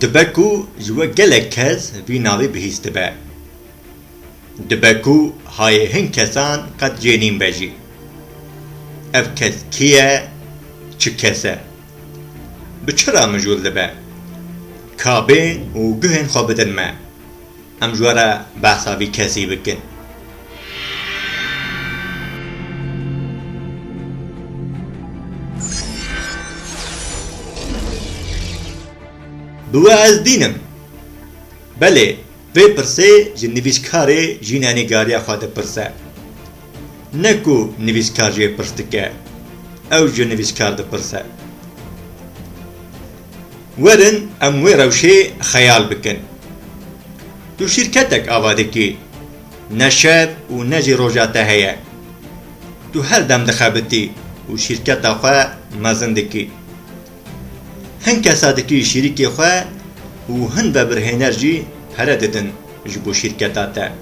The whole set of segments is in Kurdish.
Dibe ku ji we gelek kes vî navê bihîst dibe. Dibe ku hayê hin kesan qet cê nîn be jî. Ev kes kî ye, çi kes e? Bi çi re mijûl dibe? Kabên û guhên xwe bidin me. Em ji we re behsa vî kesî bikin. Bi we ez dîn im. Belê, vê pirsê ji nivîskarê jî ne nîgariya xwe dipirse. Ne ku nivîskar jê pirs dike, ew ji nivîskar dipirse. Werin em wê rewşê xeyal bikin. Tu şîrketek ava dikî. Ne şev û ne jî roja te heye. Tu her dem dixebitî û şîrketa xwe mezin dikî. Hin kesa dikî şîrikê xwe û hin vebirhêner jî pere didin ji bo şîrketa te.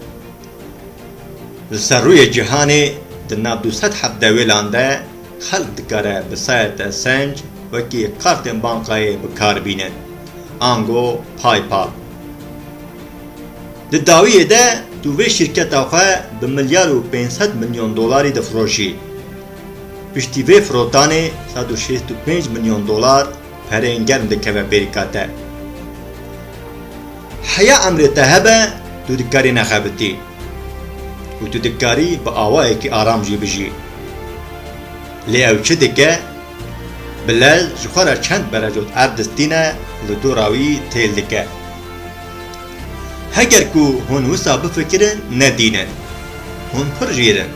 Li ser rûyê cîhanê di nav du sed hevdewêlan de, Xelk dikare bi sayete senc wekî kartên bankayê bi kar bînin, ango PayPal. Di dawiyê de tu vê şîrketa xwe bi milyar û pênc sed milyon dolarî difiroşî. Piştî vê firotanê sed û şêst û pênc milyon dolar, perên germ dikeve bêrîka te. Heya emrê te hebe tu dikarî nexebitî û tu dikarî bi awayekî aram jî bijî. Lê ew çi dike? Bi lez ji xwe re çend berecot erd distîne li dora wî têl dike. Heger ku hûn wisa bifikirin nedînin. Hûn pir jêr in.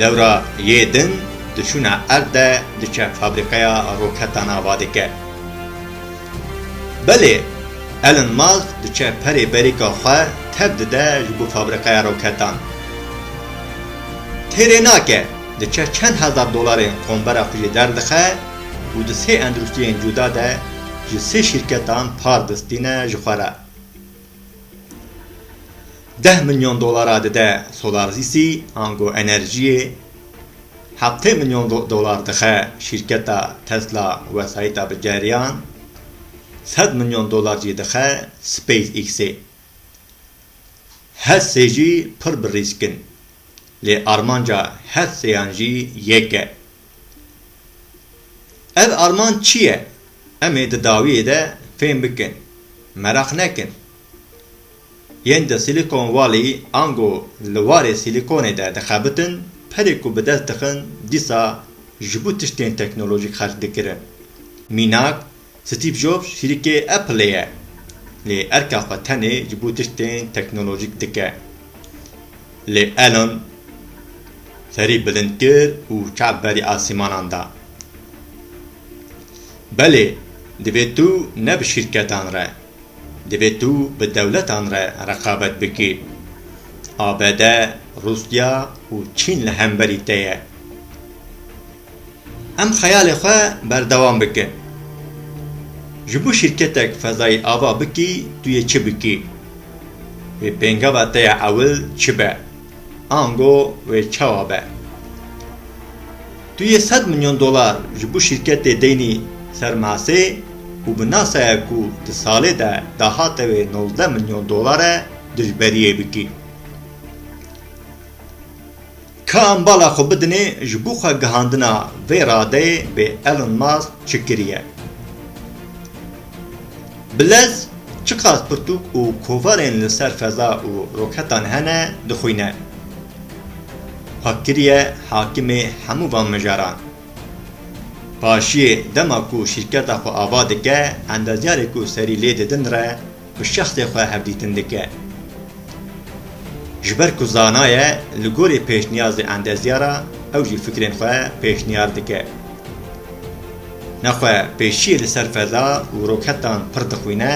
Lewra yê din diçûna erde diçe fabrîqeya roketan ava dike. Belê Elon Musk diçe perê berîka xwe tev dide ji bo fabrîqeya roketan. Têrê nake diçe çend hezar dolarên qombera xwe jê derdixe û di sê endrûstiyên cuda de ji sê şîrketan par distîne ji xwe re. Deh milyon dolar a dide Solarzîsî ango enerjiyê, heftê milyon dolar dixe şîrketa Tesla wesayîta bi ceriyan, sed milyon dolar jî dixe SpaceX'ê. Her sê jî pir bi rîsk in. Lê armanca her seyan jî yek e. Ev armanc çi ye? Em ê di dawiyê de fêm bikin. Meraq nekin. Yên di Silicon Valley ango li warê Sîlîkonê de dixebitin, perê ku bi dest dixin dîsa ji bo tiştên teknolojîk xerc dikirin. Mînak Steve Jobs hîrikê Appleê ye, lê erka xwe tenê ji bo tiştên teknolojîk dike. Lê Elon serî bilind kir û çav berî asîmanan da. Belê, divê tu ne bi şîrketan re, divê tu bi dewletan re reqabet bikî. ABD, Rûsya û Çîn li hemberî te ye. Em xeyalê xwe berdewam bike. Ji bo şîrketek fezayî ava bikî tu yê çi bikî? Wê pêngava te ya ewil çi be? Ango wê çawa be? Tu yê sed milyon dolar ji bo şîrketê deynî ser masê û bi nasaya ku di salê de dahate wê nozdeh milyon dolar e dijberiyê bikî. Ka em bala xwe bidinê ji bo xwe gihandina vê radeyê bê Elon Musk çi kiriye? Bi lez çiqas pirtûk û kovarên li ser feza û roketan hene dixwîne. Xwe kiriye hakimê hemû van mijaran. Paşiyê dema ku şîrketa xwe ava dike endezyarê ku serî lê didin re, Bi şexsê xwe hevdîtin dike. Ji ber ku zana ye, li gorî pêşniyazê endezya re ew jî fikrên xwe pêşniyar dike. Nexwe pêşiyê li ser feza û roketan pir dixwîne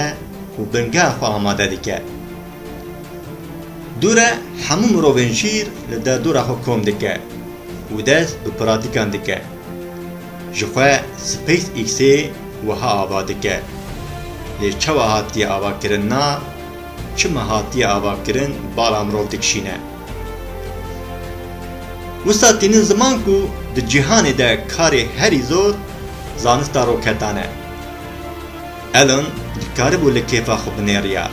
û bingeha xwe amade dike. Dûre hemû mirovên şîr li derdora xwe kom dike û dest bi pratîkan dike. Ji xwe SpaceX-ê wiha ava dike, Lê çawa hatiye avakirin na, çima hatiye avakirin bala mirov dikişîne. Wisa tînin ziman ku di cîhanê de karê herî zor zanista roketan e. Elon dikaribû li kêfa xwe binêriya,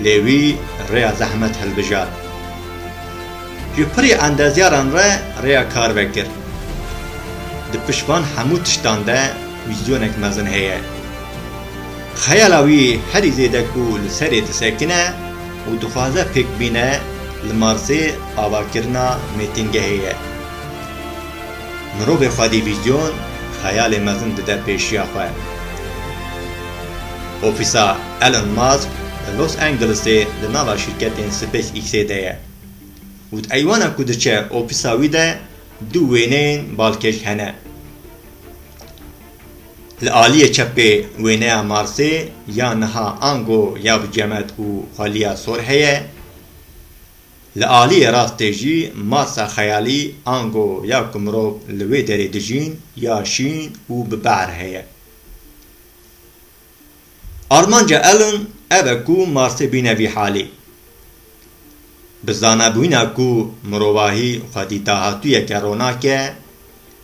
lê wî rêya zehmet hilbijart. Ji pirî endezyaran re rêya kar vekir. Di pişt van hemû tiştan de wîzyonek mezin heye. Xeyala wî herî zêde ku li serê disekine û dixwaze pêk bîne li Marsê avakirina mêtingehê ye. Mirovê xwedî vîzyon, xeyalê mezin dide pêşiya xwe. Ofîsa Elon Musk li Los Angelesê li nava şîrketên SpaceXê de ye. Û di eywana ku diçe ofîsa wî de du wêneyên balkêş hene. Li aliyê çepê wêneya Marsê ya niha ango ya bi cemet û xweliya sor heye. Li aliyê rastê jî Marsa xeyalî ango ya ku mirov li wê derê dijîn ya şîn û bi behr heye. Armanca Elon ev e ku Marsê bîne vî halê. Bi zanabûyîna ku mirovahî xwedî dahatûyeke ronak e,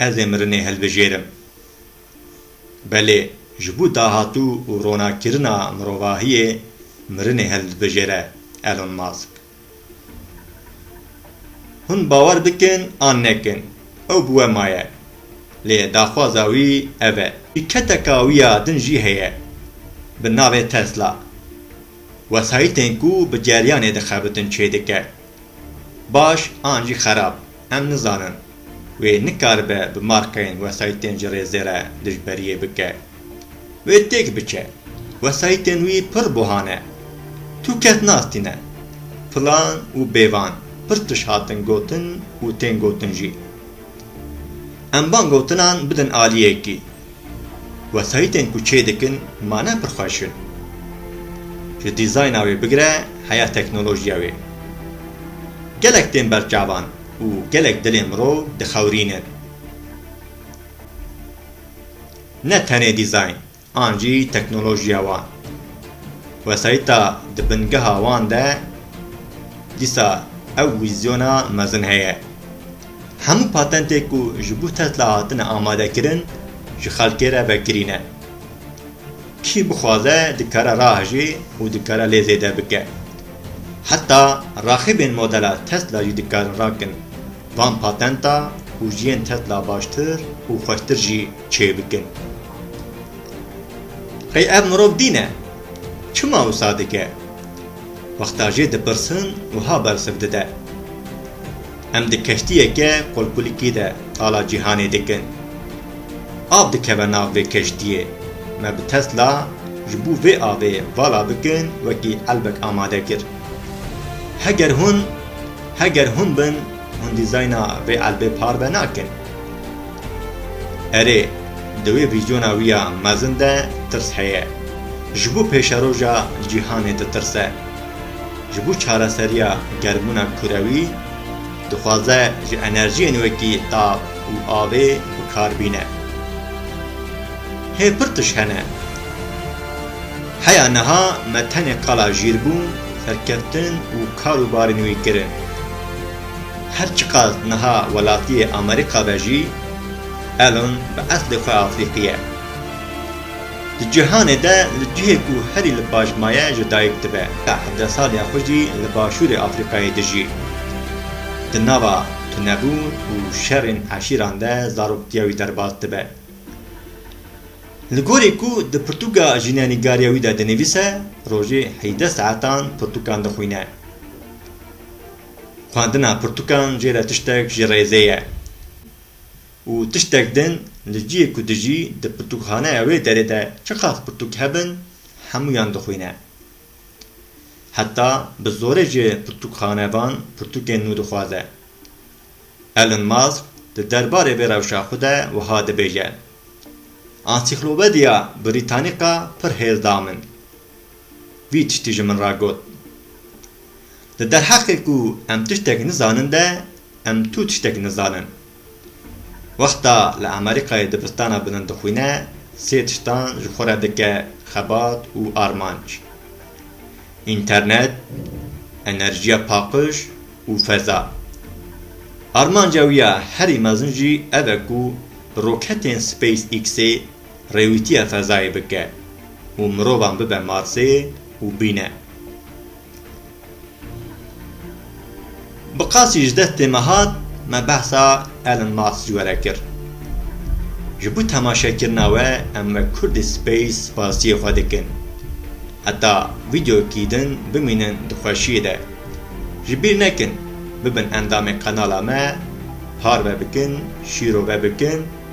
ez ê mirinê hilbijêrim. Belê ji bo dahatû û ronakkirina mirovahiyê mirinê hildibijêre Elon Musk. Hûn bawer bikin an nekin, ew bi we maye. Lê daxwaza wî ev e. Şîrketeka wî ya din jî heye bi navê Tesla. Wesayîtên ku bi ceryanê dixebitin çêdike. Baş an jî xerab. Em nizanin wê nikaribe bi markayên wesayîtên ji rêzê re dijberiyê bike. Wê têk biçe. Wesayîtên wî pir buhan e. Tu kes nas tîne. Filan û bêvan pir tişt hatin gotin û tên gotin jî. Em van gotinan bidin aliyekî. Wesayîtên ku çê dikin mane pir xweş in. Ji dîzayna wê bigire heya teknolojiya wê. Gelek tên ber çavan û gelek dilên mirov dixewrînin. Ne tenê dîzayn an jî teknolojiya wan. Wesayîta di bingeha wan de dîsa ew wîzyona mezin heye. Hemû patentê ku ji bo Tesla hatine amadekirin ji xelkê re vekirî ne. Kî bixwaze dikare rahejê û dikare lê zêde bike. Heta raxîbên modela Tesla jî dikarin rakin van patenta û jiyên Tesla baştir û xweştir jî çêbikin. Qey ev mirov dîn e? Çima wisa dike? Wexta jê dipirsin wiha bersiv dide, Em di keştiyeke qolpulîkî de qala cîhanê dikin. Av dikeve nav vê keştiyê. Me bi Tesla ji bo vê avê vala bikin wekî elbek amade kir. Heger hûn heger hûn bin hûn dîzayna vê elbê parve nakin. Erê, di wê vîzyona wî ya mezin de tirs heye. Ji bo pêşeroja cîhanê ditirse. Ji bo çareseriya germbûna kurewî, dixwaze ji enerjiyên wekî tav û avê bi kar bîne. Hê pir tişt hene. Heya niha me tenê qala jîrbûn, serkeftin û kar û barên wî kirin. Her çiqas niha welatiyê Amerîka be jî Elon bi eslê xwe Afrîqî ye. Di cîhanê de li cihê ku herî li baş maye ji dayik dibe. Te hevdeh saliya xwe jî li başûrê Afrîqayê dijî. Di nava tunebûn û şerên eşîran de zarokiya wî derbas dibe. Li gorî ku di pirtûka jînenîgariya wî de dinivîse, rojê heydeh saetan pirtûkan dixwîne. Xwendina pirtûkan jê re tiştek ji rêzê ye û tiştek din li ciyê ku dijî di pirtûkxaneya wê derê de çiqas pirtûk hebin hemûyan dixwîne. Heta bi zorê ji pirtûkxanevan pirtûkên nû dixwaze. Elon Musk di derbarê vê rewşa xwe de wiha dibêje, Ansîklopediya Brîtanîka pir hêz da min. Vî tiştî ji min re got. Di derheqê ku em tiştek nizanin de em tu tiştek nizanin. Wexta li Amerîkayê dibistana bilind dixwîne sê tiştan ji xwe re dike xebat û armanc, înternet, enerjiya paqij û feza. Armanca wî ya herî mezin jî ev e ku bi roketên SpaceX-ê rêwîtiya fezayê bike û mirovan bibe marseyê û bîne. Bi qasî ji dest tê me hat, me behsa Elon Musk ji we re kir. Ji bo temaşekirina we em wek Kurdî Space spasiyê xwe dikin. Heta vîdeoyekî din bimînin di xweşiyê de. Ji bîr nekin bibin endamê qenala me, parve bikin, şîrove bikin,